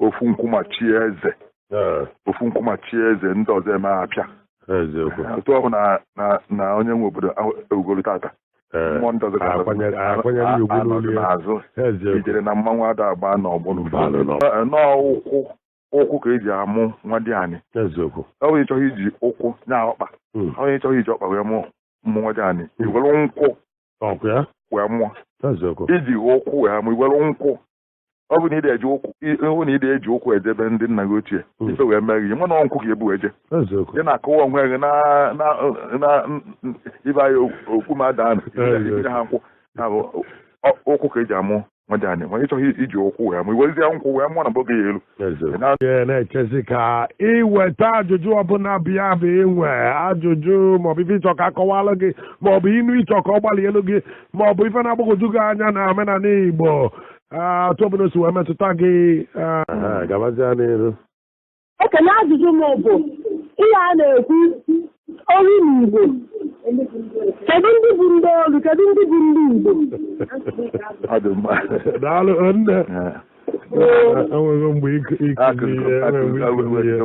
ofu nkwụmachi eze ofu nkwụmachi eze ndị ọzọ eme apịa otu ọ hụ na onye nwe obodo ewugoro tata mmụọ ndị ọzọ akwanyere ugwu n'olu ya n'azụ Ijele na mmanwụ ada agba n'ọgbọ n'ụkwụ ụkwụ ka eji amụ nwadịanị eziokwu ọ bụ ịchọghị iji ụkwụ nya ọkpa ọ bụ ịchọghị iji ọkpa wee mụọ nwadịanị iwere nkwụ wee mụọ iji ụkwụ wee mụọ iwere nkwụ ọ bụ na ịdị eji ụkwụ ịhụ na ịdị eji ụkwụ eje be ndị nna gị ochie hmm. ife wee mee gị ma na nkwụ ka ebu eje ị na-akụwa onwe gị na ibe anyị okpu ma ada anụnye ha nkwụ nya bụ ụkwụ ka eji amụ nwadịanị ma ịchọghị iji ụkwụ wee mụ iwezie nkwụ wee mụọ na mgbe oge ya elu na-echezi ka iweta ajụjụ ọbụla bịa bụ inwe ajụjụ maọbụ ife ịchọ ka akọwalụ gị maọbụ inu ịchọ ka ọ gbalielu gị maọbụ ife na-agbagwoju gị anya na omenala Igbo otu ọbụla si wee metụta gị gabazia n'iru ekene ajụjụ m bụ ihe a na-ekwu olu na Igbo kedu ndị bụ ndị olu kedu ndị bụ ndị Igbo daalụ nne enweghị mgbe ịkụ ihe enweghị mgbe ịkụ ihe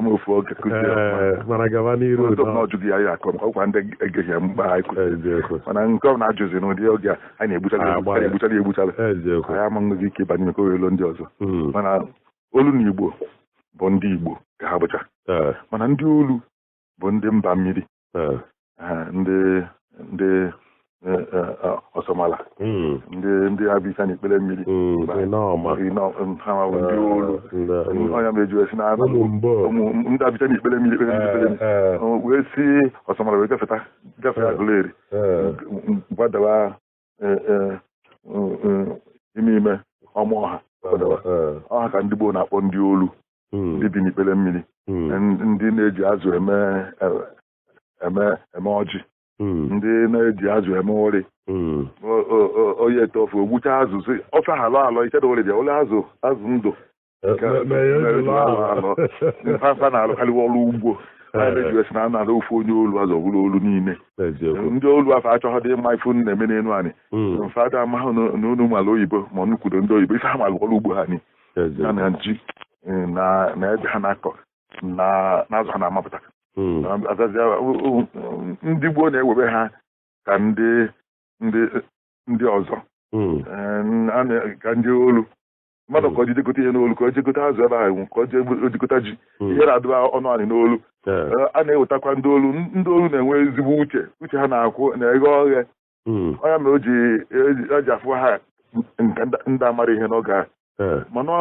ee mana gaba n'iru udo eziokwu mana nke ọ na-ajụzi n'ụdị oge a a na-egbuchara Agbalị. egbuchara egbuchara eziokwu anyị ama nwezi ike ịbanye maka oyolo ndị ọzọ Mm, mana olu na igbo bụ ndị igbo ka ha bụcha ee, mana ndị olu bụ ndị mba mmiri eh. Eh, ndị ndị eh, ọsọmala hmm. ndị ndị a bicha na ikpere mmiri hmm, hmm, ha bụ ndị olu ọ nya meji esi na ndị a bicha na ikpere mmiri wee si ọsọmala wee gafeta gafeta Aguleri gbadawa e, e, e, ime ime ọma ọ ha ọ ha ka ndị Igbo na-akpọ ndị olu hmm. ndị bi n'ikpere mmiri hmm. ndị na-eji azụ eme eme ọjị hmm. ndị na-eji azụ eme ụrị onye tee ofe ogbucha azụ si ofe halụ alọ ichedo ụrị bịa ụlọ azụ azụ ndụ Eh, Nke me- mee ya mere ejula ejula ahụ. anọ. Ndị mfafa na-alụkarịwa ọrụ ugbo anyị na-ejiwe si na a nalụ ofu onye olu azụ ọ bụrụ olu niile Eziokwu. ndị olu afụ achọghịdị ịma ife unu na-eme n'elu anị Mm, fa ada amahụ na na unu mara oyibo ma unu kwudo ndị oyibo ife ha malụ ọrụ ugbo ha ni ya eziokwu. na ji eh, na na ede ha na-akọ na na azụ ha na-amapụta Mm, azazia u- u- ndị Igbo na-ewebe ha ka ndị ndị ndị ọzọ mm, Eh, a na- ka ndị olu mmadụ ka ọ ji jegote ihe n'olu ka ọ jegote azụ ebe ahụ ka ọ jegote ji hmm. ihe na-adụ ọnụ anị n'olu eh, a na-ewetakwa ndị olu ndị olu na-enwe ezigbo uche uche ha na-akwụ na-eghe oghe hmm. ọ ya mere o ji afụ ha nke ndị amarọ ihe n'oge ahụ eh. mana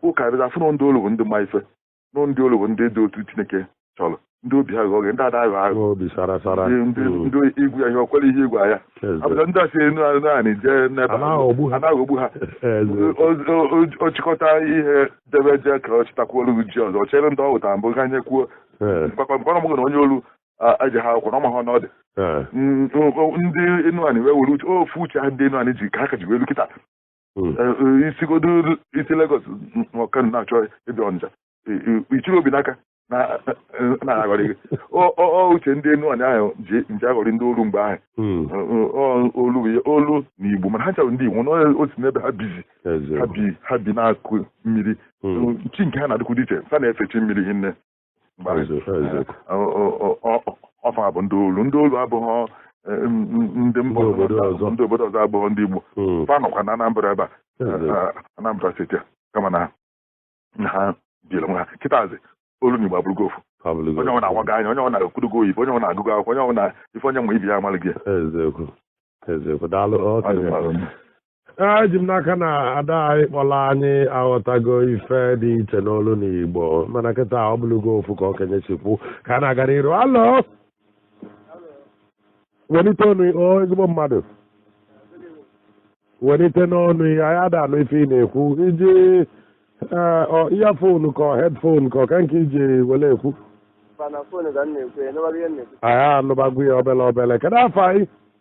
ụkarịrị afụ na ndị olu bụ ndị ma ife na ndị olu bụ ndị dị otu chineke chọrọ ndị obi ha ghe oghe ndị ada aghọ aghọ obi sara sara ndị ndị Mm. ndị ị gwa ya ihe o kwere ihe ị gwa ya Eze. abụcha ndị a si enu anụ anị jee n'ebe A na-aghọgbu ha. a na-aghọgbu ha Eze. O- o- o- o chịkọta ihe debe jee ka ọ chịtakwuo olu ji ọzọ ọ chịrị ndị ọ wetara mbụ kanyekwuo Ee, mkpakpamkpa ọ mụgụ na onye olu a- ejeha akwụkwọ na ọ maha na ọ dị ee. Mm, o- o- ndị enu anị wee were uche ofu uche ha ndị enu anị ji ka ha ka ji wee lu kịta hmm. eh, eh, i sigodu i si Lagos ọ Kano na-achọ ịbịa Ọnịcha ị chịrị obi n'aka na-aghọrị gị uche ndị enu anị ahụ ji eje aghọrị ndị olu mgbe ahụ hmm. olu olu na igbo mana ha ncha bụ ndị igbo na o si n'ebe ha bizi ha bi n'akụkụ mmiri hmm. chi nke ha na-adịkwu dị iche ha na-efe chi mmiri hinne ọ fa bụ ndị olu ndị olu abụghị eh, ndị mba ọzọ ndị obodo ọzọ abụghị ndị Igbo hmm. fa nọkwa na Anambra ebe a eh, Anambra steeti kama na ha biri onwe ha kịtazi olu na Igbo abụrụgo ofu onye ọwụna awago anya onye ọwụna ekwudogo oyibo onye ọwụna agụgo akwụkwọ onye ọwụna ife onye ma ibe ya amalịgo ya eziokwu eziokwu daalụ eji m n'aka na ada anyị kpọrọ anyị aghọtago ife dị iche n'olu na igbo mana kịta ọ bụlụgo ofu ka okenye si kwu ka a na-aga n'iru hello welite ọnụ o ezigbo mmadụ welitenụ ọnụ gị anyị ada anụ ife ị na-ekwu i ji ee, ọ earphone ka ọ headphone ka ọ ka nke i ji wele ekwu Ọ na phone ka m na-ekwu ya, ị nụbala ihe m na-ekwu. anyị anụbago ya obele obele kedu afa gị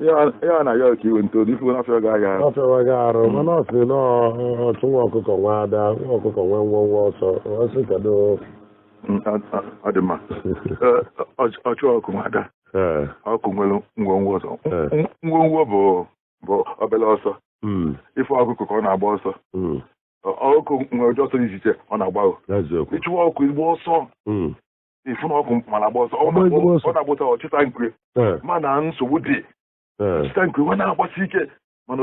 ihe ọ na-ayọ ka iwe ntozu ifu n'afọ ga ahịa ọ fịawa gị arụ mana ọ sị na ọchụ nwa ọkụkọ nwe ada nwa ọkụkọ nwe nwọnwọ ọsọ ọ sị kedu ọ dị mma ọchụ ọkụ nwe ada ee ọkụ nwere nwọnwọ ọsọ Ee. nwọnwọ bụ bụ obere ọsọ mm, ị fụ ọkụkọ ka ọ na-agba ọsọ mm, ọkụ nwere ụdị ọsọ dị iche iche ọ na-agbago eziokwu ị chụwa ọkụ ị gba ọsọ mm, ifu na ọkụkụ mara agba ọsọ ọ na-agbụta ọchịta nkwe eh. mana nsogbu dị eh. ọchịta nkwe nwa na-agbasi ike mana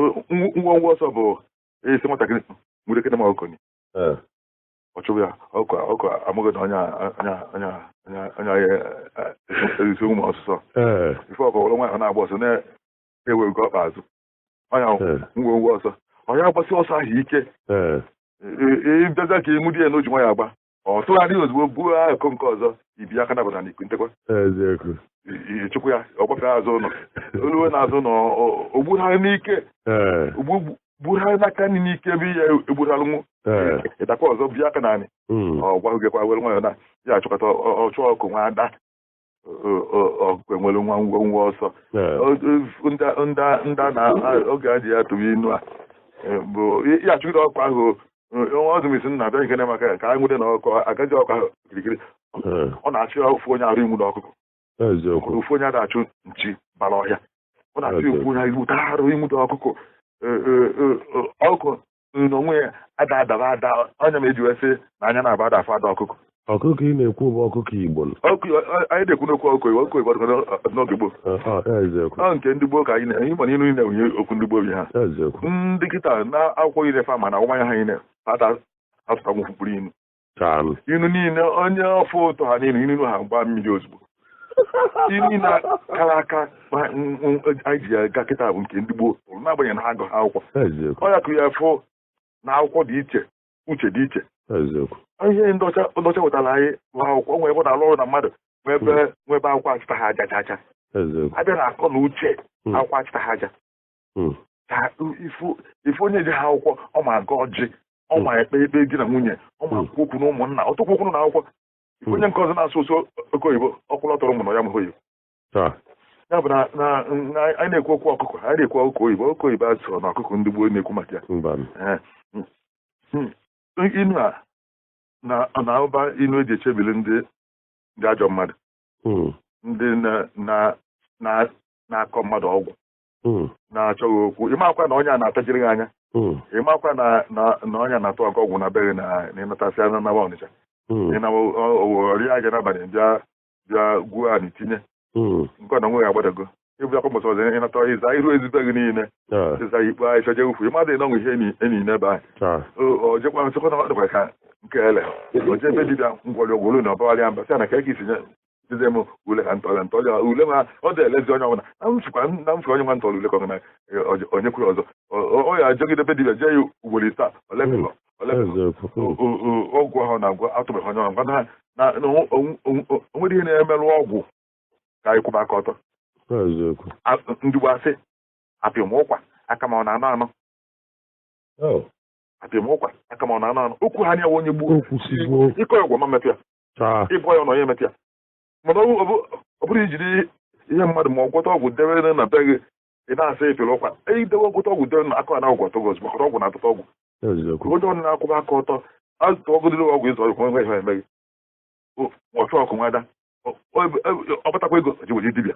nwọnwọ ọsọ bụ esi nwatakịrị nwere ekene ma okonye eh. ọ chụrụ ya ọkụkụ amụghị na onye onye erisi ụmụ ọsụsọ ife ọkụkụ were nwayọ na-agba ọsọ na-ewe nke ọkpa azụ ọ ya nwọnwọ ọsọ onye agbasi ọsọ ahụ ike ịbịaza ka ịmụ di ya na o ji nwayọ agba ọ tụgharị ozugbo buo akụkụ nke ọzọ ị bia aka nabọ n'anị kunitekwa eziokwu chụkwa ya ọ gbafee azụ ụlọ o lue n'azụ ụlọ o gbugharị n'ike o gbugharị n'aka nri n'ike ebe ị ya-egbugharịnwu ị dakwa ọzọ bia aka n'anị ọ gbawakwa were nwayọ na ya achọkọta ọchụ ọkụkụ nwe ada enwere nwa nwọnwọ ọsọ ndị na oge a ji ya tụwa inu a e, bụ a chụgide ọkụkụ ahụ nwa ọzụmisi na abịa nkene maka ya ka anyị nwude na ọkụkụ agaji ọkụkụ ahụ kirikiri ọ na-achụ ya ofu onye arụ inwudo ọkụkụ ofu onye ada achụ nchi bara ọhịa ọ na-achụ ya ofu onye inwuta arụ inwudo ọkụkụ e, e, ọkụkụ n'onwe ya ada adaba ada ọ ya me e ji wee sị na anya nabọ ada afụ ada ọkụkọ ọkụkọ ị na-ekwu bụ ọkụkọ igbo anyị na-ekwu n'okwu ọkụkọ igbo ọkụkọ igbo n'oge gboo ọ nke ndị gboo ka anyị na ịma n'ilu niile nwunye okwu ndị gboo bi ha ndị kịta na akwụkwọ ire fa ma na awụmanya ha niile fa ada asụtanwu ofu mkpụrụ inu inu niile onye ọfụụ tụ ha niile inu ha gbaa mmiri ozugbo inu niile kara aka anyị ji aga kịta bụ nke ndị gboo n'agbanyeghị na ha agụha akwụkwọ ọ ya ka ị ya-afụ na akwụkwọ dị iche uche dị iche ihe ndị ọcha wetara anyị bụ akwụkwọ nwere ebe ọ na-alụ ọrụ na mmadụ nwee ebe akwụkwọ achịtaha aja chaachaa a bịa na akọ na uche hmm. akwụkwọ achịtaha aja hmm. ka ị fụ onye jeha akwụkwọ ọ ma agọ ọjị ọ hmm. ma ekpe ikpe di na nwunye ọ ma ekwu okwu na ụmụnna ọtụkwu okwu na akwụkwọ hmm. onye nke ọzọ na-asụsụ oke oyibo ọ kwụrụ ọtọrọ mụ na ya mụrụ oyibo ya bụ na anyị na-ekwu okwu ọkụkọ anyị na-ekwu ọkụkọ oyibo oke oyibo a sụrụ na ọkụkọ ndị gboo na-ekwu maka ya inu a na-atụba inu e ji echebiri ndị ajọ mmadụ ndị na-akọ mmadụ ọgwụ hmm. na-achọ gị okwu ị makwa na onye a na-atajiri gị anya hmm. ị makwa na onye na-atụ gị ọgwụ na be gị na ịnatasị anya nawa ọnịcha hmm. ọ rịa aja n'abalị bịa bịa gwuo anị tinye nke na nwe ya agbadago ịbụ akwa mbọsị ọzọ ị nata ị zaa iru ezi be gị niile ị zaa ikpe anyị chọje ukwu mmadụ ịnọnwụ ihe enyi n'ebe anyị ojekwa nsịkwa na ọ dịkwa ka nke ele o je ebe dibịa ngwọrị ọgwụ olu na ọbawalịa mba sị na ka e ga-esi nye dịzie m ule ka ntọrịa ntọrịa ule ma ọ dị elezi onye ọbụla na m chịkwa na m chịkwa onye nwa ntọrọ ule ka ọ na onye kwuru ọzọ ọ ya ajọgide be dibia jee ya ugboro ise olemilọ olemilọ ọgwụ ahụ na-agwa atụbeghị onye ọ gwa na na o nwere ihe na-emerụ ọgwụ ka anyị kwụba aka ọtọ ndị gboo asị apị m ụkwa aka ma ọ na-anọ anọ apị m ụkwa aka ma ọ na-anọ anọ okwu ha anya onye gbuo ịkọ ọgwụ ma metụ ya ịbụ ya na onye metụ ya mana ọ bụrụ i jiri ihe mmadụ ma ọ gwọta ọgwụ debe na be gị ị na-asị ị pịrị ụkwa idewe gwọta ọgwụ debe na akụ na ọgwụ ọ tọ gị ozugbo ọrụ ọgwụ na-atụta ọgwụ onye ọnụ na-akwụba aka ọtọ azụta ụdịrị ọgwụ ịzụ ọgwụ nwe ihe emeghị ọchụ ọkụ nwada ọ batakwa ego ji were dibịa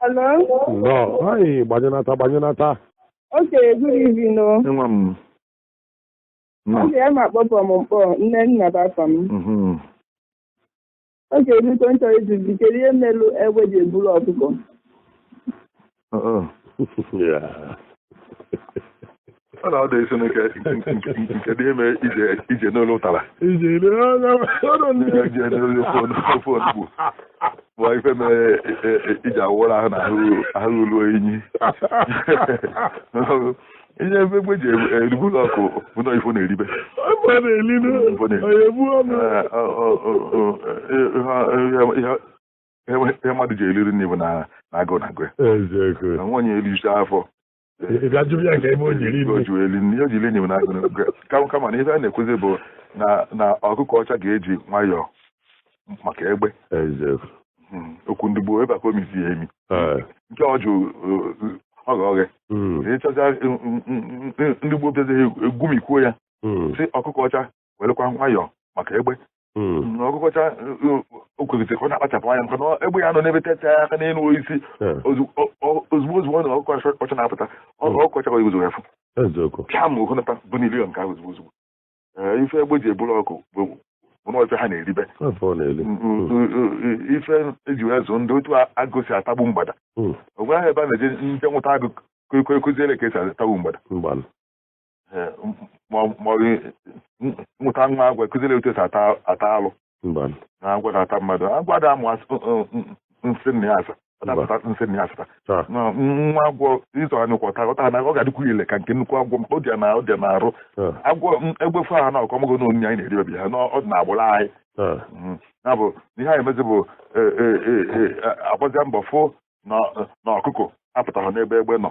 Hello? Nnọọ. Anyị gbanyụnata gbanyụnata. Okay, good evening. o. Nwa m. Nnọọ. Okay ana m akpọpụ na Mkpọ Nnenna bụ afa m. Mhm. Okay biko m chọrọ ịjụzi kedu ihe melu egbe ji eburu ọkụkọ. Uh-uh. Yeah. ọ na-ada isi n'ike nke dị ime ije ije n'olu ụtara ije n'olu ofe onugbu bụ ife mere iji awụrụ ahụ na ahụ ruo enyi ihe ebe egbe ji eburu ọkụkọ bụ na ife ọ na-eribe ihe mmadụ ji eri nri bụ na agụụ na-agụ ya nwaanyị ericha afọ ị ga-ajụ ya ka ebe o jiri ibu o ji wee li nri o jiri enyi m n'aka n'oge. Ka- kama na ife a na-ekwuzi bụ na na ọkụkọ ọcha ga-eji nwayọọ maka egbe eziokwu Mm, okwu ndị gboo ebe a ka o misi ya emi Ee. nke ọ jụ oghe oghe Mm. ịchọcha ndị gboo bịazi egwumikwuo ya Mm. sị ọkụkọ ọcha werekwa nwayọọ maka egbe hmm. ọkụkọ ọcha o kwesịrị ka ọ na-akpachapụ anya maka na egbe ya nọ n'ebe techa ya aka n'elu osisi hmm. ozugbo ozugbo ọ nọ ọkụkọ ọcha na-apụta hmm. ọkụkọ ọcha ozugbo ya fụ pịa ma ogonata bụ n'ilion nke ahụ ozugbo ozugbo eh, ife egbe ji eburu ọkụkọ bụ ife ha na-eribe ife eji wee zụ ndị otu agụ si atagbu mgbada o nweghị ebe a na-eje nje nwụta agụ kụziere ka esi atagbu mgbada maọbụ nwụta nwa agwọ kụziere otu esi ata alụ na agwọ na-ata mmadụ agwọ da amụ nsị nna ya asa ọ dapụta nsị nna ya asata nwa agwọ ị zọọ ha n'ụkwụ ọ tara ọ tara na ọ ga-adịkwu ile ka nke nnukwu agwọ ọ dị na ọ dị na arụ agwọ egbe fụ ha na ọkọmọgụ na onyinye anyị na-eri obi ha na ọ dị na agbụrụ anyị ya bụ ihe anyị emezi bụ agbazia mbọ fụ na ọkụkọ apụtaha n'ebe egbe nọ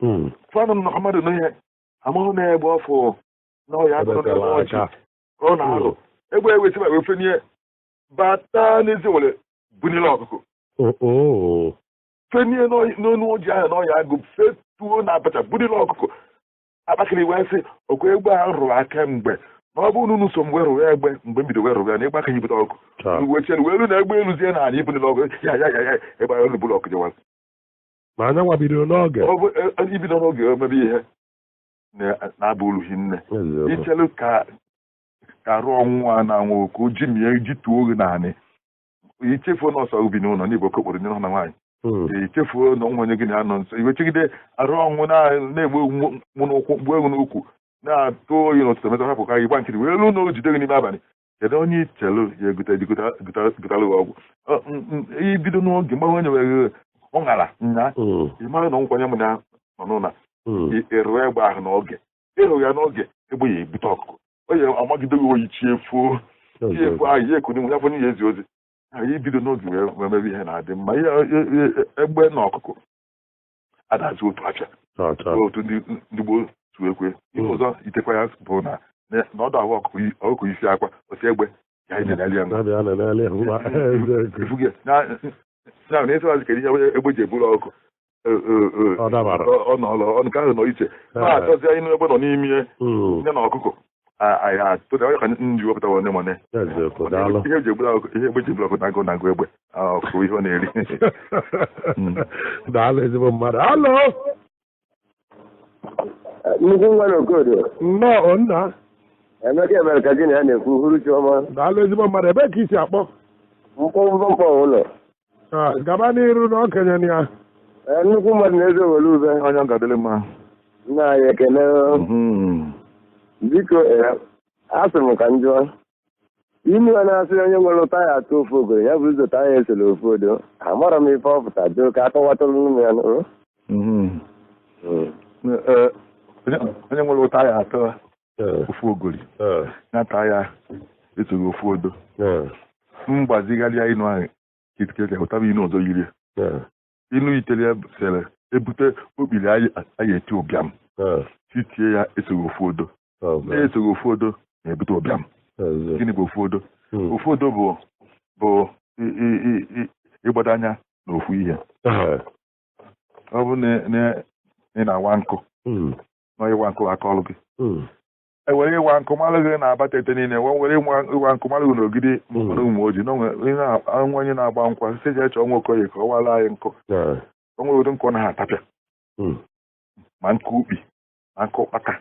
hmm. fana m na mmadụ na ihe amahụ na egbe ọfụ na ọya agụ n'elu ọjị ka ọ na-alụ hmm. egbe ewe tiba wee fenie bata n'ezi were bunile ọkụkụ oh, oh. fenie n'enu ọjị ahụ na ọya agụ fetuo na abacha bunile ọkụkụ akpakiri wee sị okwe egbe ahụ rụrụ aka mgbe na ọ bụrụ na unu so mgbe rụrụ ya egbe mgbe m bido wee rụrụ ya na ịgba aka ibute ọkụ wee chelu wee ru na egbe eluzie na ala ibunile ọkụ ya ya ya ya egbe ahụ buru ọkụ jewara ma anyanwa bidoro n'oge Ọ bụ, e- e- ibido n'oge wee mebe ihe na- na-aba uru hinne Eziokwu. ichelu ka ka arụ ọnwụ a na-anwụ ka o jimie gị tụọ gị n'anị ichefuo na ọ sọ ị bi n'ụlọ na ị bụ okokporo n'ụlọ na nwaanyị Mm. ichefuo na o nwe onye gị na ya nọ nso i wee chegide arụ ọnwụ na- na-egbu egbu mụ n'ụkwụ mgbu egbu n'ukwu na-atụ oyi n'ụtụtụ metụ hapụ ka gị gba nkịtị wee ruo na o jide gị n'ime abalị kedu onye ichelu ya egote je gota- gota- gotara gị ọgwụ Ọ, m, m, ibido n'oge mgbe onye nwere ọ ṅara nya Mm, ị mara na nkwanye m na ya nọ n'ụlọ mm, ị- ị rụọ egbe ahụ n'oge ị rụghị ya n'oge egbe ya ebute ọkụkụ o ya amagide gị oyi chi efuo chi efuo ahụ ya ekuni ya fọnye ya ezi ozi anyị ibido n'oge wee wee mebe ihe na-adị mma ihe e- e- e- egbe na ọkụkụ adazi otu afịa otu ndị gboo si ekwu ihe hmm. ọzọ yitekwa ya bụ na n'ọdụ ahụ ọkụkọ isi akwa osi egbe ya ije n'ali ya na na ịsịwazi kedu ihe egbe ji eburu ọkụ e, e, e, ọ nọọlọ nke ahụ nọ iche na-achọzi inu egbe nọ n'ime hmm. ya na ọkụkọ tụta onye ka nji wepụta one mone ihe eji egbula ihe egbe ji eburu ọkụ na agụụ na-agụ egbe ọ bụ ihe ọ na-eri daalụ ezigbo mmadụ alo nnukwu nwa na okodo nnọọ Nnaemeka Ebere ka gị na ya na-ekwu hụrụ chiọma daalụ ezigbo mmadụ ebee ka i si akpọ Nkpọ Nkpọ Nkpọ Ụlọ Ah, gaba n'iru na okenye na ya Ee, nnukwu mmadụ na-eze were ube onye ọ ga-adịrị mma nna anyị ekele Mhm. biko ee, asị m ka m jụọ inu a na-asị onye nwere ụta ya atụ ofu ogoro ya bụ ụzọ taya esorọ ofu odo amarọ m ife ọ pụta doo ka a kọwatụrụnụ mụ ya nụ Mhm. Ee, onye onye nwere ụta ya atụ eh. ofu ogori eh. na-ata ya esoghị ofu odo eh. mgbazigharịa inu ahụ kitkeke hụtaba inu ọzọ yiri inu yitere ya sere ebute okpiri a ya-eti ụbịam site ya esoghị ofu odo oh, esoghị ofu odo na-ebute ụbịam gịnị bụ ofu odo hmm. ofu odo bụ bụ ịgbado anya na ofu ihe ọ bụrụ na ị na-awa nkụ hmm. na ịwa nkụ aka ọrụ gị hmm. e were ịwa nkụ malụ gị na abatete niile wee were ịwa nkụ malụ gị na ogidi hmm. na ụmụoji na nwa onye na-agba nkwụ sị jee chọọ nwa okoye ka ọ wara anyị nkụ o nwere ụdị nkụ na ha atapịa hmm. ma nkụ ukpi ma nkụ ụkpaka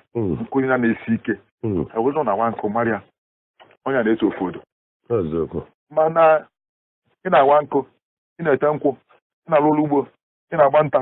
nkụ ya na-esi ike e were na-awa nkụ mara onye na-eso ofu odo mana ị na-awa nkụ ị na-ete nkwụ ị na-alụ ọlụ ugbo ị na-agba nta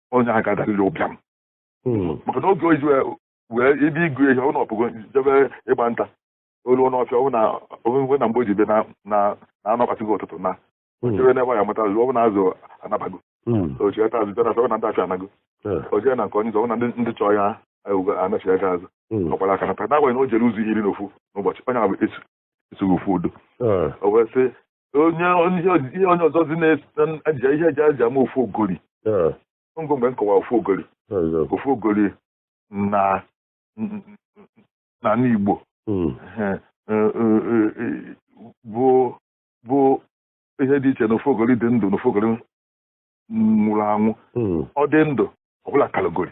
onye a ga-adarịrị ụbịam Hmm. maka na oge o ji wee- wee ibe ịgụ ihe ọ nọpụgo jebe ịgba nta o lu n'ọfịa ọ wụ na onwe na mgbe o ji bịa na- na na anụ akpasịgo ụtụtụ naa Hmm. jebe n'ebe ya mata azụ ọ bụ na azụ anabago Hmm. o chighata azụ bịa na afịa ọ bụ na ndị afịa anago Eh. o jee na nke onye ọ bụ na ndị ndị chọọ ya ewugo anachigha gị azụ Hmm. ọ gbara aka nata n'agbanyeghị na o jere ụzọ iri na ofu n'ụbọchị onye ahụ eso esoghị ofu odo eh. o wee sị onye ihe onye ọzọ dị na-eji ihe eji a ja-ama ofu ogori eh. ngụ mgbe m kọwa ofu ogori eh, ofu ogori na na n'Igbo hmm. bụ bụ ihe dị iche na ofu ogori dị ndụ na ofu ogori nwụrụ anwụ hmm. ọ dị ndụ ọ bụlụ akalogori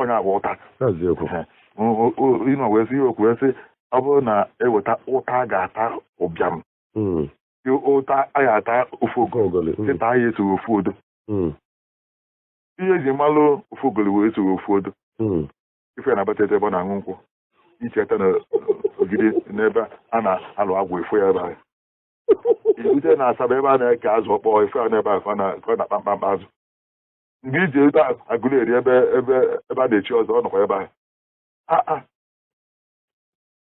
onye agba ụta ịnọ wee sị ya okwu wee sị ọ bụrụ na e weta ụta a ga-ata ụbịam hmm. ụta a ga-ata ofu ogoli hmm. sita ya esoghị ofu odo hmm. ihe eji malụ ofu ogoli wee esoghị ofu odo ife na-abata ebe ọ na-aṅụ nkwụ icheta na ogidi n'ebe a na-alụ agwụ ị fụ ya ebe ahụ i rute na asaba ebe a na-eke azụ ọkpọ ị fụ ya n'ebe ahụ ka ọ na-akpa mkpamkpa azụ mgbe i ji rute agụleri ebe ebe ebe a na-echi ọzọ ọ nọkwa ebe ahụ Ah, ah.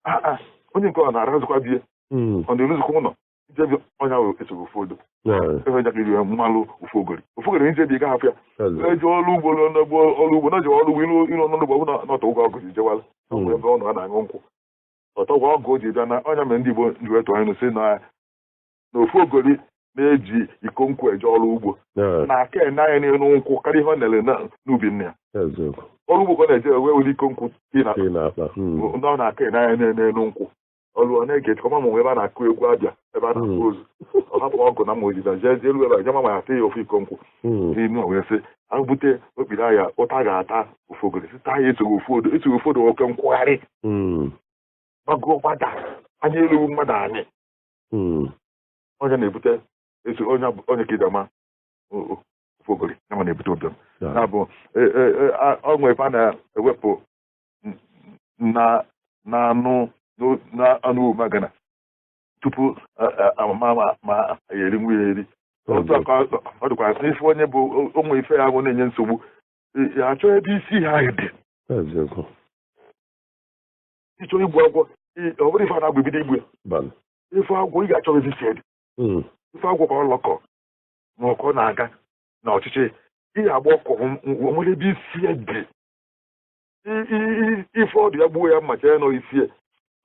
Ah, ah. onye nke ọ na-arazụkwa bie Mm. ọ na-eruzikwa ụlọ ijebi ọ nya wụ esoghị ofu odo Yeah. ife njakịrị eji malụ ofu ogori ofu ogori nje bi ga hapụ ya Hello. eji ọrụ ugbo ruo n'ugbo ọrụ ugbo na ji ọrụ ugbo iru iru ọnụ ugbo ọ bụlụ na ọ tọgbọ ọgụ ji jewe ọlụ Mm. ọ bụ ebe ọ nọ a na-aṅụ nkwụ ọ tọgbọ ọgụ o ji bịa na ọ nya mere ndị igbo ji wee tụọ n'inu sị na na ofu ogori na-eji iko nkwụ eje ọrụ ugbo na-aka ene anya n'elu nkwụ karịa ihe ọ nere n'ubi nne ya ọrụ ugbo ka ọ na-eje wee were iko nkwụ hmm. ọ na-aka ene anya n'elu nkwụ ọrụ ọ na-ege chọma ma ebe a na-akụ egwu a bịa ebe a na-akwa hmm. ozu ọ hapụ ọgụ na mma o ji jee jee elu ebe a ja-ama ma ya ya ofu iko nkwụ hmm. n'inu wee sị agbute okpiri ahịa ụta ga-ata ofu ogori sita ya esoghị ofu odo esoghị ofu odo oke nkwụgharị gbagoo gbada anya elu mmadụ anyị hmm. onye na-ebute esi onye ka idama ofogori ya ma na-ebute ụbịam na-abụ e, e, e, ọṅụ ebe a na-ewepụ na anụ n'anụ magana tupu a mara ma ya eri nwa ya eri otu aka ọ dịkwa n'ife onye bụ ụmụ ife ya bụ na-enye nsogbu achọ ebe isi ha dị ịchọ igbu agwọ ọ bụrụ ife a na-agba ibido igbu ya ị fụ agwọ ị ga-achọ ebe isi e dị hmm. ị fụ agwọ ka ọ lọkọ ma ọkọ na-aga n'ọchịchị ị ga-agba ọkụ nwere ebe isi e dị ị fụ ọdụ ya gbuo ya mma chee na ọ isi e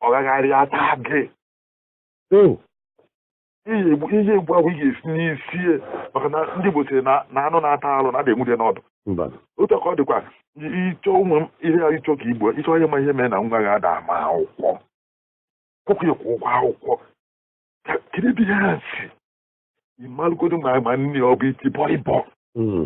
ọ gagharịa taa gị hmm. ị ya-egbu agwọ ị ga-esi n'isi maka na ndị Igbo sịrị na anụ na-ata alụ na ada enwude n'ọdụ otu ka ọ dịkwa ịchọ ụmụ ihe ya ịchọ ka igbo ịchọ ihe ma ihe mere na nwa gị ada ama akwụkwọ kwụkwụ ya ụgwọ akwụkwọ kedu ebe ihe a si ị malụgodo ma ma nne ọ bụ iti bọlịbọ hmm.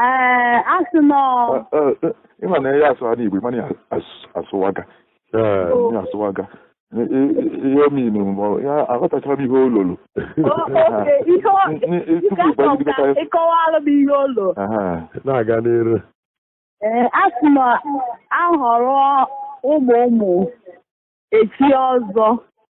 ee asị nọ ịma na ya asụ a n'Igbo ịma na ya as- asụwaga Ee. ya asụwaga I- i- i- ihe ominu ma ya aghọtachara m ihe ololo oke ihe ọ- N- n- tupu Nke afọ ịgbagide ka karịa- ịkọwalụ m ihe ụlọ Aha. na-aga n'iru ee asị na ahọrọ ụmụ ụmụ echie ọzọ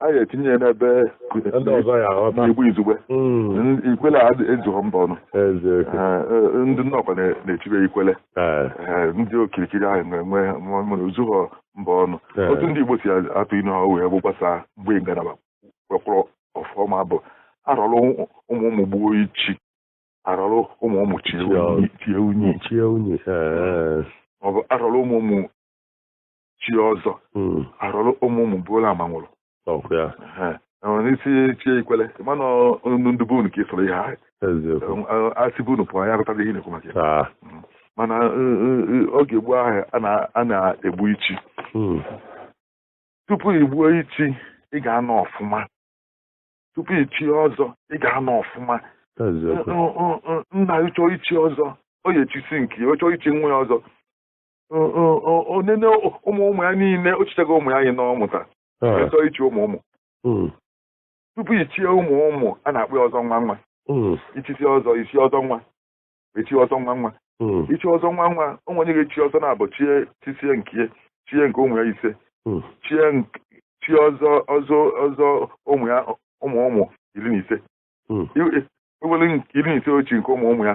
a ga-etinye ya n'ebe ndị ọzọ ya aghọta Igbo izugbe hmm. ikwele a ezughọ mba ọnụ ndị Nnọkwa na-echibe ikwele ndị okirikiri ahụ na-enwe nwere o zughọ mba ọnụ otu ndị Igbo si atụ inu ha wee bụ gbasaa mgbe ngalaba kpọkpọrọ ọfụma bụ arọrụ ụmụ ụmụ gbuo ichi arọrụ ụmụ ụmụ chie unyi ọ bụ arọrụ ụmụ ụmụ chi ọzọ mm. arọrụ ụmụ ụmụ buru amanwụrụ n'isi chi ikwele mana ndị bụ unu ka ịsọrọ ihe ahụ asị bụ unu pụọ ya rụtara ihe na-ekwu maka ya mm. mana oge gboo ahụ a na-egbu ichi mm. tupu i gbuo ichi ị ga-anọ ọfụma tupu i chie ọzọ ị ga-anọ ọfụma nna gị chọọ ichi ọzọ ọ ya-echisi nke ya ọ chọọ ichi nwa ya ọzọ onene ụmụ ụmụ ya niile o chichago ụmụ ya anyị na ọ mụtara chọọ ichi ụmụ ụmụ hmm. tupu i chie ụmụ ụmụ a na-akpọ ya ọzọ nwa nwa hmm. i chisie ọzọ isi ọzọ nwa echie ọzọ nwa nwa hmm. ichi ọzọ nwa nwa o nwere onye ga-echi ọzọ na-abụ chie chisie nke chie nke ụmụ ya ise chie chi ọzọ ọzọ ọzọ ụmụ ya ụmụ ụmụ iri na ise ewere iri na ise o chie nke ụmụ ụmụ ya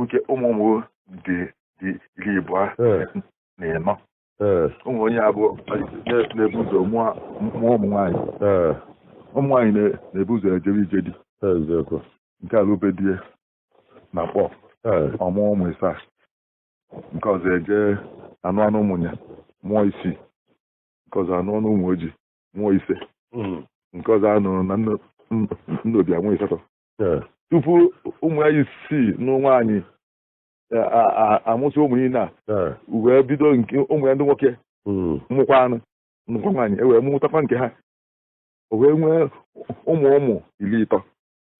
nke ụmụ ụmụ dị dị iri abụọ eh. na ịnọ eh. ụmụ onye abụọ na-ebu ụzọ mụọ ụmụ nwaanyị eh. ụmụ nwaanyị na-ebu ụzọ ejebe ije di nke a lụbe di ya na Nkpor ọ mụọ ụmụ ịsaa nke ọzọ eje anụ anụọ n'Ụmụnya mụọ isii nke ọzọ anụọ n'Ụmụoji mụọ ise hmm. nke ọzọ anụrụ na Nnobi amụọ ịsatọ Eh. tupu ụmụ ya isii na nwaanyị a- a- a- amụsị ụmụ niile a Eh. wee bido nke ụmụ ya ndị nwoke Mm. nụkwanụ nụkwa nwaanyị e wee mụtakwa nke ha o wee nwee ụmụ ụmụ iri ịtọ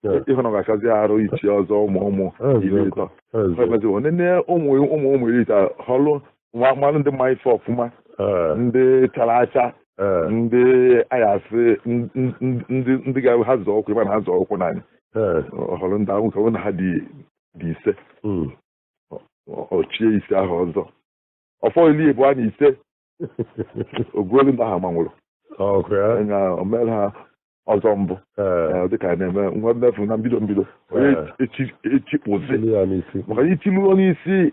Eh. ị hụ na ọ ga-akazi arụ ichi ọzọ ụmụ ụmụ iri Eziokwu. ịtọ Eziokwu. Ọ bịazi, ọ nene ụmụ ụmụ ụmụ iri ịtọ họlụ nwa mmanụ ndị ma ife ọfụma ee, ndị chara acha ee, ndị a ya-asị n- n- n- ndị ndị ga ha zọọ ụkwụ ị ma na ha zọọ ụkwụ n'anị ee, ọ họrọ ndị ahụ nke na ha dị dị ise mm. ọ- ọ chie ise ahụ ọzọ ọ fọ iri ịbụa na ise o gbuelu ndị ahụ amanwụrụ ọkụ ya anya o mere ha ọzọ mbụ ee, Eh, dịka a na-eme nwa mmefu na mbido mbido onye Eh. echi- echikpụzi chili ya n'isi maka na ichilu onye isi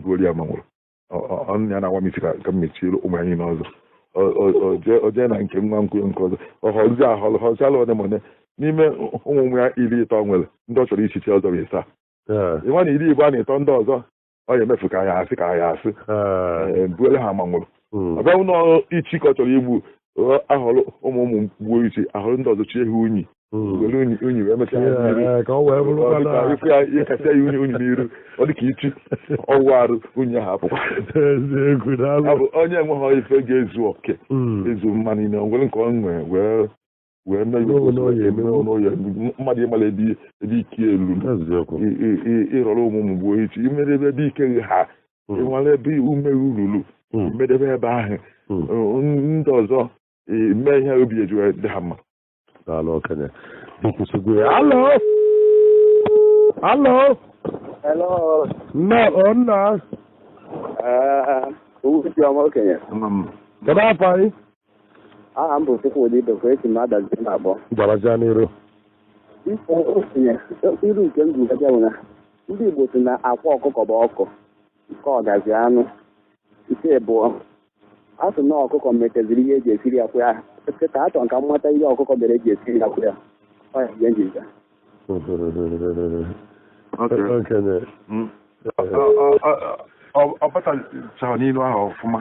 gbuoru ya amanwụrụ ọnụ ya na-awa m isi ka m mechiere ụmụ anyị n'ọzọ o jee na nke nwa nkwụ nke ọzọ ọ họzi ahọlụ họzi alụ ọ dị mọne n'ime ụmụ nwa ya iri ịtọ nwere ndị ọ chọrọ ichi ọzọ bụ ịsaa ị ma na iri ịbụa na ịtọ ndị ọzọ ọ ya emefu ka ya asị ka ya asị gbuere ha amanwụrụ ọ bịa n'ichi ka ọ chọrọ igbu a họrọ ụmụ ụmụ gbuo ichi a họrọ ndị ọzọ chie ha unyi hmm. were unyi unyi wee mechaa ya unyi unyi n'iru ọ dị ka ichi ọ wụọ arụ unyi ahụ apụkwa onye enweghị ife ga-ezu oke hmm. ezu mma niile ngwere nke ọ nwee wee mee mmadụ ịmara ebe ike ya lu ị rọrọ ụmụ ụmụ gbuo ichi i mere ebe ike ha hmm. ị nwale ebe ume ruru hmm. medebe ebe ahụ hmm. ndị ọzọ i mee ihe obi eji dị ha mma daalụ okenye ị kwụsịgo ya hello hello hello nna ọ nna eh, okenye kedu afa gị aha m bụ Chukwudi Ibekwe esi m Adazi na-akpọ gabazia n'iru Ifo okenye ilu nke m ga-ajụ bụ na ndị Igbo sị na akwa ọkụkọ bụ ọkụ nke ọgazi anụ nke abụọ a sị na ọkụkọ meteziri ihe eji esiri akwa ya kịta achọ m ka m mata ihe ọkụkọ mere eji esiri akwa ya ọ ya ihe m ji ajụ okenye hmm. ọ batachaghị n'inu ahụ ọfụma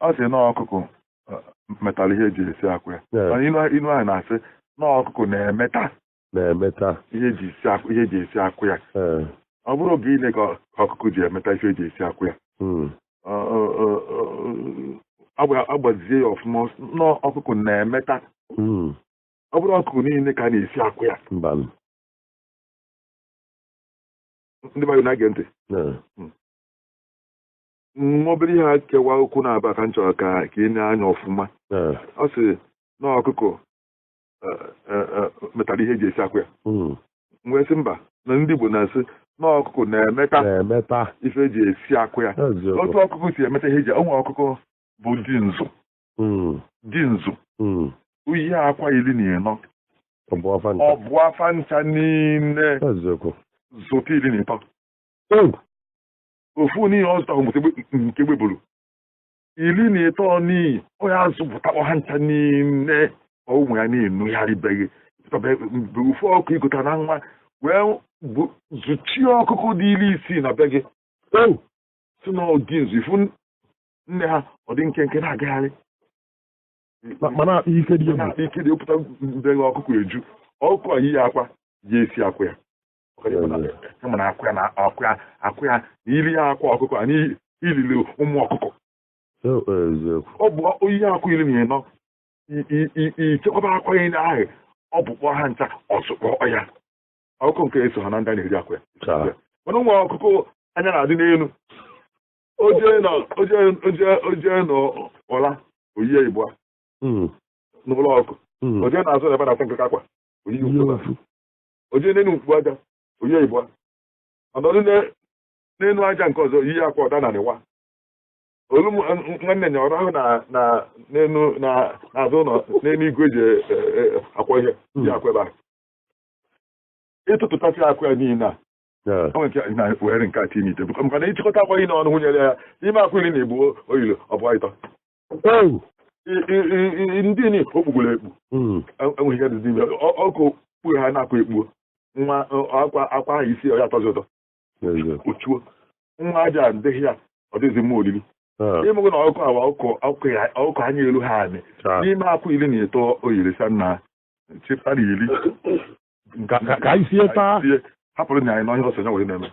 ọ sị na ọkụkụ metara ihe eji esi akwa ya mana inu ahụ na-asị na ọkụkụ na-emeta na-emeta ihe eji esi akwa ya ọ bụrọ oge ile ka ọkụkụ ji emeta ihe eji esi akwa ya hmm. agbazie ya ọfụma na ọkụkụ na-emeta hmm. ọ bụrọ ọkụkọ niile ka a na-esi akwa ya mba m. ndị mmadụ na-ege ntị Eh, nwa obere ihe a kewa okwu naabọ ka m chọrọ ka ka i nee anya ọfụma eh, ọ sị na ọkụkọ eh, eh, eh, metara ihe eji esi akwa ya mm. m wee sị mba na ndị Igbo na-asị na ọkụkọ na-emeta na-emeta ife eji esi akwa ya eziokwu otu ọkụkọ si emeta ihe eji o nwee ọkụkọ bụ dinzu dinzu o yie akwa iri na ịnọ ọ bụa fa ncha niile zụta iri na ịtọ ofu ni ọ zụtarọ nke egbe buru iri na ịtọ ni ọ ya-azụpụtakpọ ha ncha niile ụmụ ya na-enugharịbeghị ofu ọkụkọ i gota na nwa wee zụchie ọkụkụ dị iri isii na be gị sị na ọ dinzu ị fụ nne ha ọ dị nkenke na-agagharị mana ike dị ike dị ọ pụta mbeghe ọkụkọ eju ọkụkọ a yie akwa ya esi akwa ya kama na akwa ya na akwa ya akwa ya na iri ya akwa ọkụkọ a na-elili ụmụ ọkụkọ ọ bụ o yie akwa iri na ịnọ i chekwaba akwa ya ndị ahụ ọ bụkpọọ ha ncha ọ zụkpọọ ha ọkụkọ nke a esoha na ndị a na-eri akwa ya mana o nwee ọkụkọ anya na-adị n'elu o jee na o jee o jee o jee na ọla o yie ịbụa Mm, n'ụlọ ọkụ mm. o jee n'azụ ebe na akwa nke kakwa o yie Ihe ịbụa ofu. o jee n'elu mkpu aja o yie ịbụa ọ nọdụ ne- n'elu aja nke ọzọ yie akwa ọ daa n'anị waa olu m- m- nwanne nya ọrụ ahụ na na n'elu na n'azụ ụlọ n'elu igwe eji e- e- e- akwa ihe yie akwa ebe a ị tụtụtasịa akwa ya niile a were nke a tinye ite bụkọ maka na ị chịkọta akwa ihe n'ọnụ nwunyere ya ime akwa iri na ịbụa o yili ọ bụ ịtọ ndị ni o kpugburu ekpu hmm. enweghị ihe dịzi ime ọkụ kpuru ha na-akwa ekpuo nwa akwa akwa ahụ i sie ọ ya atọzi ụtọ o chuo nwa aja adịghị ya ọ dịghịzi mma olili ị mago na ọkụkọ a ọkụkọ anya eluha anị n'ime akwa iri na ịtọ o yiri sanna chefa na iri ka anyị sie taa hapụrụ nya anyị na onye ọsọ ya wee na-eme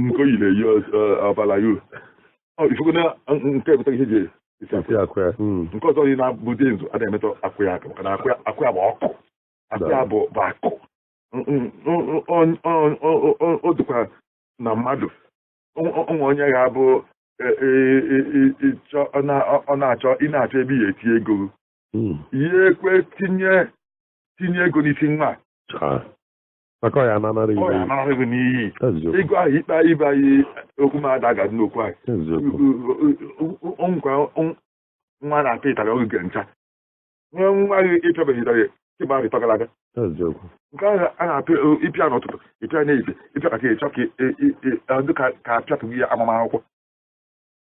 nke oyi na-eyi ọbara ya ifugo na nke ebute ihe ji esi akụ ya nke ọzọ yi na-abụ dị nzu a na-emetọ akụ ya aka maka na akụ ya bụ ọkụ akụ ya bụ akụ o dịkwa na mmadụ o nwe onye ga-abụ ọ na-achọ ị na-achọ ebe ya eti ego hmm. ihe ekwe tinye tinye ego n'isi nwa maka ọya ananara ibe n'iyi ịgụ ahụ ikpe anyị ibe anyị okwu m ada ga n'okwu anyị nkwa nwa na-apịa ịtarị oge ncha nwee nwa gị ị pịabeghị ịtarị ịgba rịtọgara aga nke ahụ a na-apịa ị pịa n'ụtụtụ ị pịa n'ehihie ị pịa ka ị chọ ka dịka ka apịatụghị ya amama akwụkwọ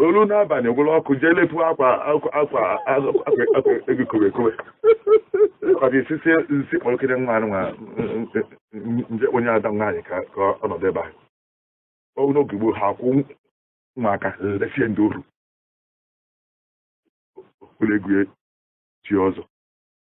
o lue n'abalị gwụrụ ọkụ jee lepu akwa ego kowe kowe ọ dị sisi nsi kpọrọkịrị nwa nwa nje onye ada nwaanyị ka ka ọ nọdụ ebe ahụ ọ n'oge gboo ha akwụ nwa aka lesie ndị oru ụlọ egwu chi ọzọ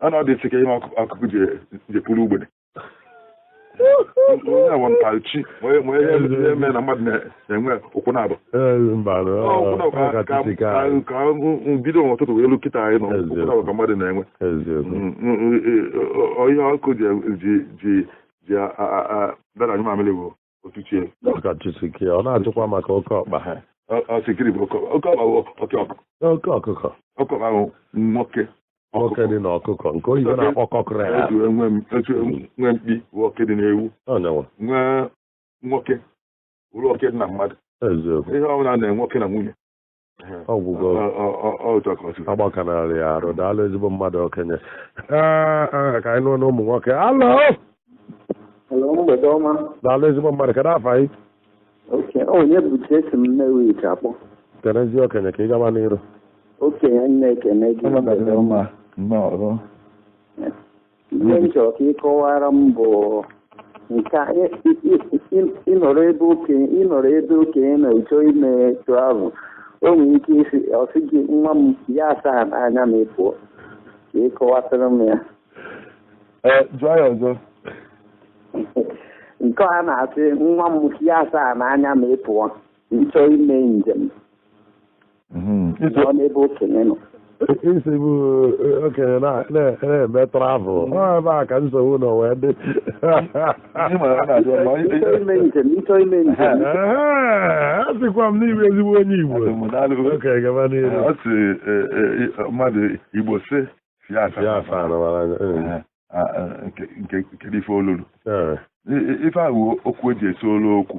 a na ọ dị sike ihe ọkụkụ ji pụrụ ugbede onye awọ ntachi ma ihe eme na mmadụ na-enwe ụkwụ naabọ ka bido n'ụtụtụ wee lue kịta anyị nọ ụkwụ naabọ ka mmadụ na-enwe ihe ọkụkụ ji ada anyụ mamịrị bụ otuchie ọka chusike ọ na-ajụkwa maka oke ọkpa ha Ọ- ọ sị gịnị bụ oke oke ọkpa bụ oke ọkpa oke ọkụkọ oke ọkpa bụ nwoke nwoke dị n'ọkụkọ nke oyibo na-akpọ cockerel etu e nwe m- etu e nwe- nwee mkpi bụ oke dị n'ewu ọnyanwa nwee nwoke bụrụ oke dị na mmadụ eziokwu ihe ọbụla na nwoke na nwunye ọgwụgwọ agbakanarị ya arụ daalụ ezigbo mmadụ okenye ee ka anyị nụ ọnụ ụmụ nwoke hello daalụ ezigbo mmadụ kedụ afa gị Onyebuchi esi m Nnewi akpọ kenezi okenye ka ị gaba n'iru okenye m na-ekene gị ihe m chọrọ ka ị kọwara m bụ nke a, ị- ị- ị- ị- ị nọrọ ebe okenye ị nọrọ ebe okenye na ị chọ ime travel o nwere ike ịsị ọ sị gị nwa m ya asaa n'anya ma ị pụọ ka ị kọwatara m ya Ee, jụọ ya ọzọ nke a na-asị nwa m ya asaa n'anya ma ị pụọ ị chọ ime njem mhm. nọ n'ebe okenye nọ isi bụ eh, okenye na-eme travel mhm. ọ ebe a ka nsogbu nọ wee dị asịkwa m n'ime ezigbo onye Igbo okenye gaba n'ihu ọ sị eh, eh, mmadụ Igbo si ya afa nke ife olulu ife ahụ okwu eji esi olu okwu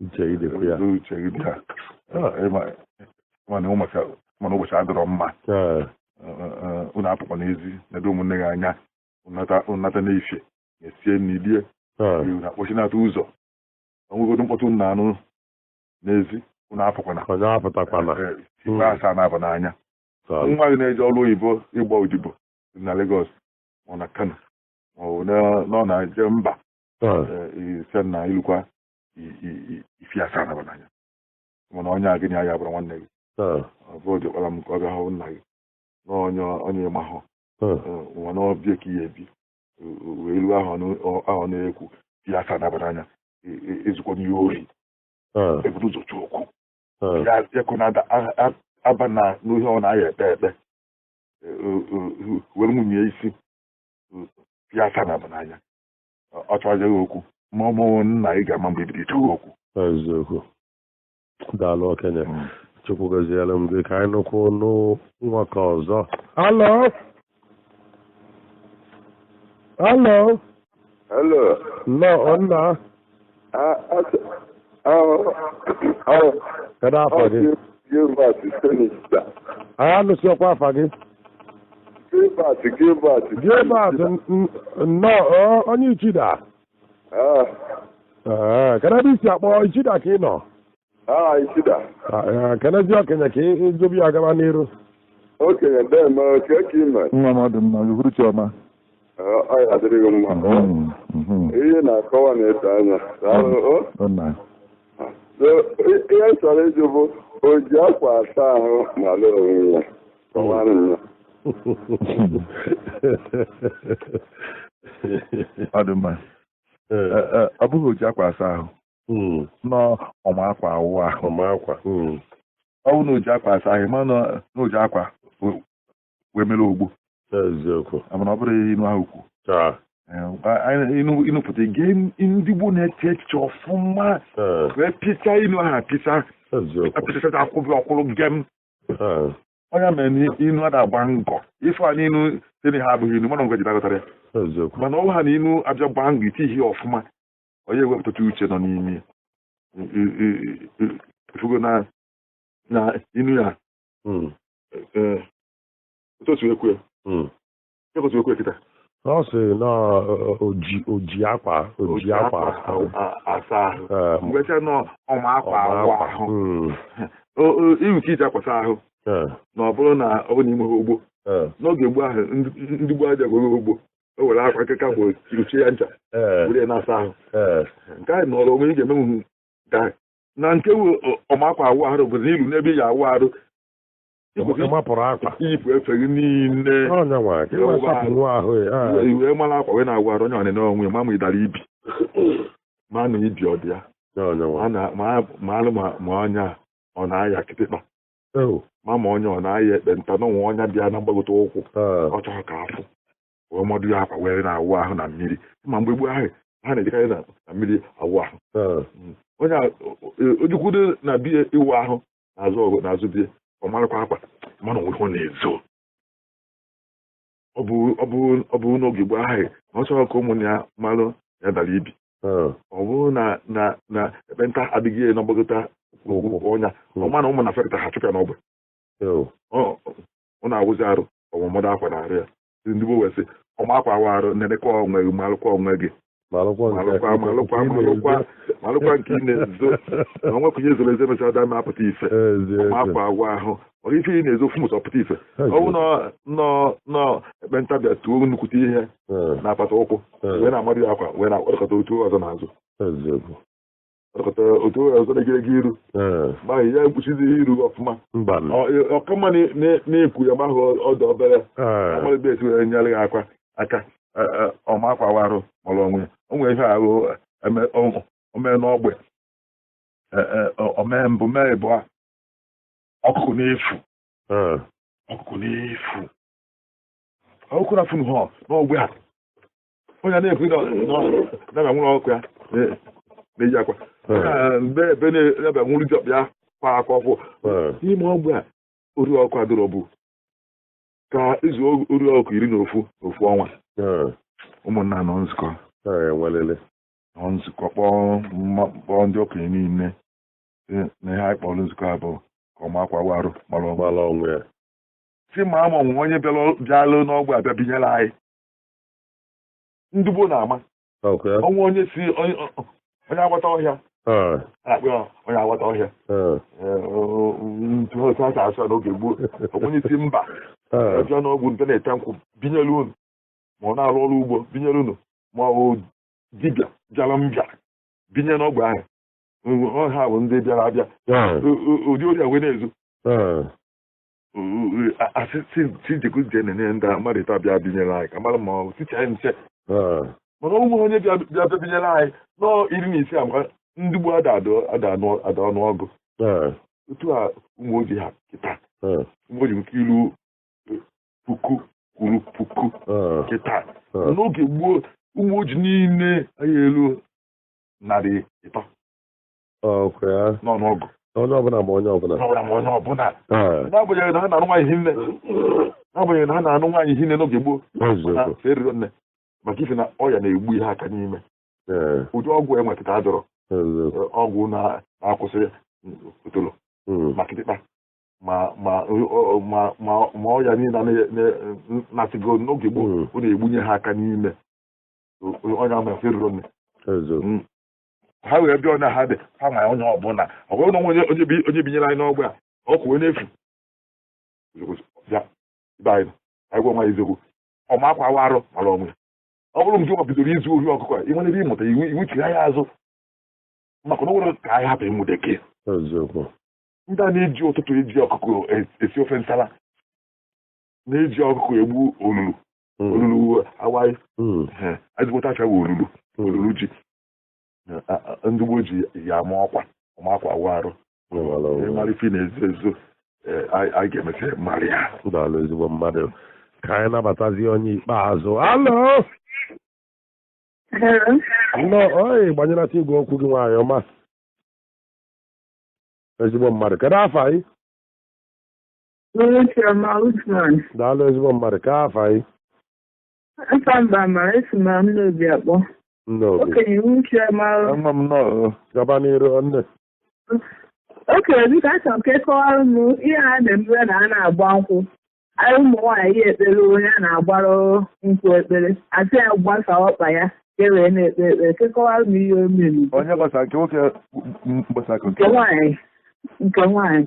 uche gị dịkwa ya Olee uche gị bịa Ah, ị ma- ma na ụbọchị ma na ụbọchị adịrọ mma Ee, unu apụkwa n'ezi nedo ụmụnne gị anya ụnata ụnata n'ifie esie nri lie ee, unu akpọchinata ụzọ o nwegodo mkpọtụ unu na-anụ n'ezi unu apụkwana onye apụtakwana Eh, ifi asaa naabọ n'anya Taa, nwa gị na-eje ọrụ oyibo ịgba odibo na Lagos ma ọ na Kano ma ọ bụ na- na ọ na-eje mba ee, eh, ị sị na i lukwa ifi asaa naabọ n'anya mana onye a gị na ya bụrụ nwanne gị ọ bụ oge kpara m ka ọ bịa hụ nna gị na onye onye ị mahụ nwa na be ya ka ị ya-ebi wee ruo ahụ na-ekwu fi asaa naabọ n'anya ezukwana ori ebuna ụzọ chọọ okwu ya ekwe na aba na n'ohe ọ na-aya ekpe ekpe were nwunye ị sị fi asaa naabọ n'anya ọ chọghị gị okwu ma ọ bụghị nna ị ga-ama mgbe e bido chọ gị okwu eziokwu daalụ okenye hmm. chukwu gọziere m gị ka anyị nụkwụ n'nwa ka ọzọ hello hello hello nnọọ nna kedu afa gị Gilbert Senista. a nụsiọkwa afa gị Gilbert Gilbert. Gilbert n- n- nnọọ ọ, onye Ichida Ah, Ee, kedu ebe i si akpọ Ichida ka ị nọ Ah, Ichida. Ah, eh, kenezie okenye ka ị jụba ya gaba n'iru Okenye deeme kee ka ị me. nwa m ọ dị mma uhuruchi ọma Ah, Ọ ya-adịrị gị mma. Mhm, mhm. Ihe na-akọwa na-edo anya. Daalụ. o. Ọ na- So, i- Ihe m chọrọ ịjụ bụ o ji akwa asa ahụ malụ onwe ya. Kọwara m ya. ọ dị mma Eh, eh, ọ bụghị o ji akwa asa ahụ hmm. na ọ ma akwa awụ ahụ ọ ma akwa hmm. ọ bụ na o ji akwa asa ahụ ma na o ji akwa wee mere ogbo eziokwu mana ọ bụrụ inu ahụ kwu ịnụpụta gee ndị gboo na-eche echiche ọfụma wee pịcha inu ahụ apịcha apịchachacha akwụbị ọ kwụrụ gem ọ ya mere na inu ada agba ngọ ife a n'inu tene ha abụghị inu mana ngwa ji dagọtara ya mana ọwa ha na inu abịa gbaa ngọ iti ihe ọfụma onye ewepụta uche nọ n'ime ifugo na na inu ya hmm. e, otu otu ekwe hmm. otu ekwe kịta ọ sị na oji oji akwa oji akwa asa ahụ eh, mgbe cha na ọma akwa awụ ahụ hmm. iwu ka iji akwa asa ahụ eh. na ọ bụrụ na ọ bụ na i nweha ogbo eh. n'oge gboo ahụ ndị gboo aja gwere ogbo o were akwa nkịka bụ ochie ya ncha eh. were na-asa ahụ eh. nke anyị nọrọ onwe ị ga-emenwu nke anyị na nke ọma akwa awụ arụ bụ na i lu n'ebe ị ya-awụ arụ ịmapụrụ akwa i yipụ efe gị niile i wee mara akwa wee na-awụ arụ onye ọnịna onwe ma ma ị dara ibi ma na ibi ọ dị ya ma alụ ma onye ọ na-aya kịtịkpa ma ma onye ọ na-aya ekpenta na o nwe ọnya bịa na mgbagote ụkwụ ọ chọrọ ka a fụ wee madụ ya akwa wee na-awụ ahụ na mmiri ma mgbe gboo ahụ ha na-ejekarị na mmiri awụ ahụ hmm. onye o jekwudo na be ya ịwụ ahụ n'azụ ọgụ n'azụ be ya ọ marakwa akwa ma na o nwe ihe ọ na-ezo ọ bụ n'oge gboo ahụ na ọ chọrọ ka ụmụnne ya malụ ya dara ibi hmm. ọ bụrụ na na na ekpenta adịghị na mgbagota ọnya hmm. ọ ma na ụmụnna fụpụta ha chụpụ ya n'ogbe hmm. ọ na-awụzi arụ ọ ma ọ madụ akwa na arụ ya ndị gboo wee sị ọma akwa awụ arụ nenekwa onwe gị malụkwa onwe gị malụkwa nke malụkwa malụkwa nke ị malụkwa na-ezo. malụkwa nke ị na-ezo na o nwekwa ihe e zoro ezo mechara ada ma apụta ife Ezi ma ezi. ọma akwa awụ ahụ ọ ife ị na-ezo fụmụta ọpụta ife Ezi. ọ bụ na na na ekpenta bịa tuo nnukwute ihe Eh, n'apata ụkwụ eh, wee na-amadụ ya akwa wee na-akpọkọta otu ọzọ n'azụ eziokwu ọkọta otu onye ọzọ na-egere gị iru ee ma ya ekpuchizighị iru ọfụma mba na Ọ- ọkama na- na- na-ekwu ya ma ahụ ọdọ obere ee a mara ebe e si were nyere ya akwa aka e- e, ọma akwa awụ arụ mara onwe ya o nwere ihe ahụ eme- o- o mee n'ogbe E, e, o- o mee mbụ mee ịbụa ọkụkụ na-efu ee ọkụkụ na-efu ọkụkụ na-efunahụ n'ogbe a onye na-ekwu na na nwụrụ ọkụkụ ya na-eyi akwa mbe ebe na-ebe nwụrụ jọb ya kwa akwa ọ bụ n'ime ogbe a ori ọkụkụ adịrọ bụ ka e zuo ori ọkụkụ iri na ofu ofu ọnwa ụmụnna nọ nzukọ nọ nzukọ kpọọ ndị okenye niile na ihe anyị kpọrọ nzukọ a bụ ka ọma akwa awụ arụ mara mara onwe ya sị ma ama o nwe onye bịalụ n'ogbe a bịa binyere anyị ndị gboo na-ama Okay. ọnwa onye si onye onye agbata ọhịa Ah, na-akpọ ya onye agbata ọhịa ah, Ee, o- o- ntu otu a si asụ ya n'oge gboo onye si mba ah. bịa n'ogbe nte na-ete nkwụ binyere unu ma ọ na-arụ ọrụ ugbo binyere unu ma ọ bụ dibịa bịara mbịa binye n'ogbe ahụ Ọ- ọ ha bụ ndị bịara abịa Ah, O- o- ụdị ori a wee na-ezu ah. asị tijekwu je na-enye ndị amarịta bịa binyere anyị ka mara ma ọ ticha anyị nche mana ụmụ onye bịa bịa binyere anyị nọ iri na ise maka ndị gboo ada ada ọnụ ọgụ otu a Ụmụoji ha kịta Ụmụoji nke elu puku kwuru puku kịta n'oge gboo Ụmụoji niile anaghị elu narị ịtọ ọkụ ya n'ọnụ ọgụ onye ọbụla ma onye ọbụla onye ọbụla ma onye ọbụla Ee, n'agbanyeghị na ha na-anụ nwaanyị hinne n'agbanyeghị na ha na-anụ nwaanyị hinne n'oge gboo na eziokwu erirọ nne maka ife na ọya na-egbunye ha aka n'ime Ee, ụdị ọgwụ e nwe kịta adịrọ eziokwu eh, ọgwụ na- na-akwụsị otolo Mm, ma kịtịkpa ma ma ọ- ọ- ma ma ma ọya niile na- na- na-asịgo n'oge gboo Mm. ọ na-egbunye ha aka n'ime onye ahụ na fa erirọ nne eziokwu ha wee bịa na ha dị ha ma onye ọbụla ọ bụrụ na onye onye binyere anyị n'ogbe a ọkụkọ wee na-efu agwa nwa eziokwu ọ ma akwa awụ arụ mara onwe ya ọ bụrụ nke ọ bidoro izu ohi ọkụkọ a ị nwere ebe ịmụta iwu iwu chiri anya azụ maka na o nwere ka anyị hapụ ụmụtakịrị a na-eji ụtụtụ eji ọkụkọ e, esi ofe nsala na-eji ọkụkọ egbu olulu Mm. olulu awaị Mm. eh, ezigbote afa ya bụ olulu olulu ji Eh, a- a- ndị gboo ji ya ama ọkwa ọ ma akwa awụ arụ mara onwe. ị mara ife na-ezo ezo eh, anyị anyị ga-emesịrị mara ya Daalụ ezigbo mmadụ. Ka anyị nabatazie onye ikpeazụ. Alo! Hello. Nnọọ, ọyị, gbanyelata igwe okwu gị nwaanyị ọma. Ezigbo mmadụ. Kedu afa yị? daalụ ezigbo mmadụ kee afa yị afa m bụ Amara esi m na Nnobi akpọ okenye uche ma gaba n'iru nne okenye biko achọrọ m ka ị kọwara m ihe a na-emere na a na-agba nkwụ anyị ụmụ nwaanyị ya-ekpere onye a na-agbara nkwụ ekpere a sị ya gbasa ọkpa ya ka e wee na-ekpe ekpere ka ị kọwara m ihe o mere onye gbasa nke nwoke gbasa nke nwaanyị nke nwaanyị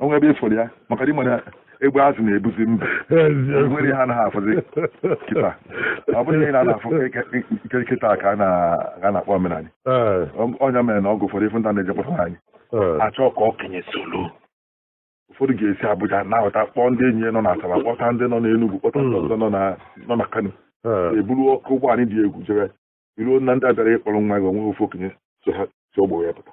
o nwe ebe ị fụrụ ya maka dị mana egbe azụ na-ebuzi mba e nwere ihe a naghị afụzi kịta ọ bụrụ ihe na-afụ nke kịta ka a na-akpọ omenala ọ ya mere na oge ụfọdụ ị fụ ndị na-eje kpọta nwaanyị a chọọ ka okenye solo ụfọdụ ga-esi Abuja na-ahụta kpọọ ndị enyi ya nọ na Asaba kpọta ndị nọ n'Enugwu kpọta ndị ọzọ nọ na Kano e buru oke ụgbọala dị egwu jere i ruo na ndị bịara ịkpọrọ nwa gị o nwe ofu okenye so ha si ọgbọ ya pụta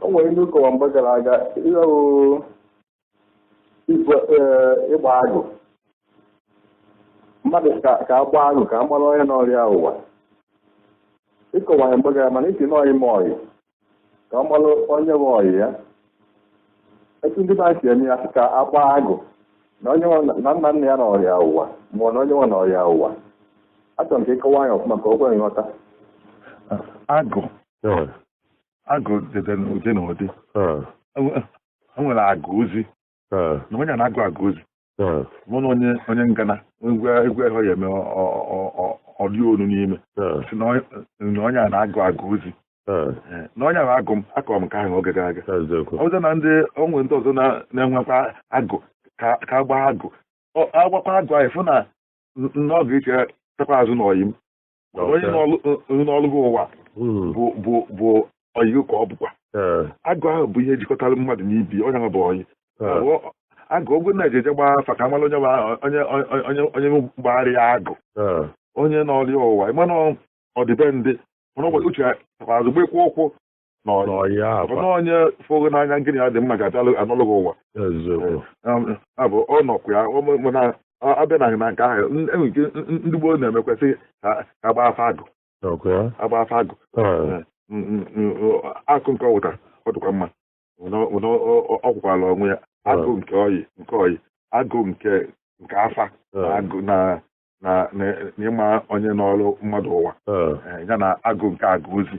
o nwere ihe ị na-akọwa mgbe gara aga ịlahụ igwe ee, ịgba agụ mmadụ ka ka a gbaa agụ ka a mara onye nọrọ ya ụwa ị kọwara ya mgbe gara mana ị sị na ọyị ma ọyị ka a mara onye bụ ọyị ya etu ndị ba si eme ya sị ka a gbaa agụ na onye nwa na nna nna ya nọrọ ya ụwa ma ọ na onye nwa nọrọ ya ụwa achọrọ m ka ị kọwaa ya ọfụma ka o kwere nghọta agụ agụ dị dị n'ụdị na ụdị ah, Enwe- e nwere agụ ozi ah, na onye a na-agụ agụ ozi ah, mana onye onye ngana ekwe ekwehọ ya eme ọ- ọ- ọ- ọ- ọ dị olu n'ime ah, si na onye- na onye a na-agụ agụ ozi ah, Eh, na onye ahụ agụ m akọrọ m nke ahụ oge gara aga eziokwu. ọ bụzị na ndị o nwere ndị ọzọ na- na-enwekwa agụ ka a gbaa agụ Ọ- a gbakwaa agụ ahụ fụ na n- na ọ ga-eche chetakwa azụ na ọyị m Ọ bụ onye Okay. nọlụ- onye nọlụ gị ụwa Mm. bụ bụ bụ ọyị gị ka ọ bụkwa Eh, agụ ahụ bụ ihe jikọtara mmadụ na ibe onye ahụ bụ ọyị eh, Ọ- agụ oge a na-eje eje gbaa afa ka a mala onye bụ ahụ- onye onye- onye onye gbagharị ya agụ eh, onye nọlụ ya ụwa ị ma na ọdịbendị mana ụbọchị uche ya azụgbekwa ụkwụ na onye fụ gị n'anya nke gị na ya dị mma ga-abịa anọlụ gị ụwa abụ ọ nọkwa ya na a bịa na na nke ahụ e nwere ihe ndị gboo na-emekwa sị a gbaa afa agụ a gbaa afa agụ akụ nke ọwụta ọ dịkwa mma ọ kwụkwala onwe ya agụ nke ọyị nke ọyị agụ nke nke afa agụ na na ịma onye nọrọ mmadụ ụwa ya na agụ nke agụ ozi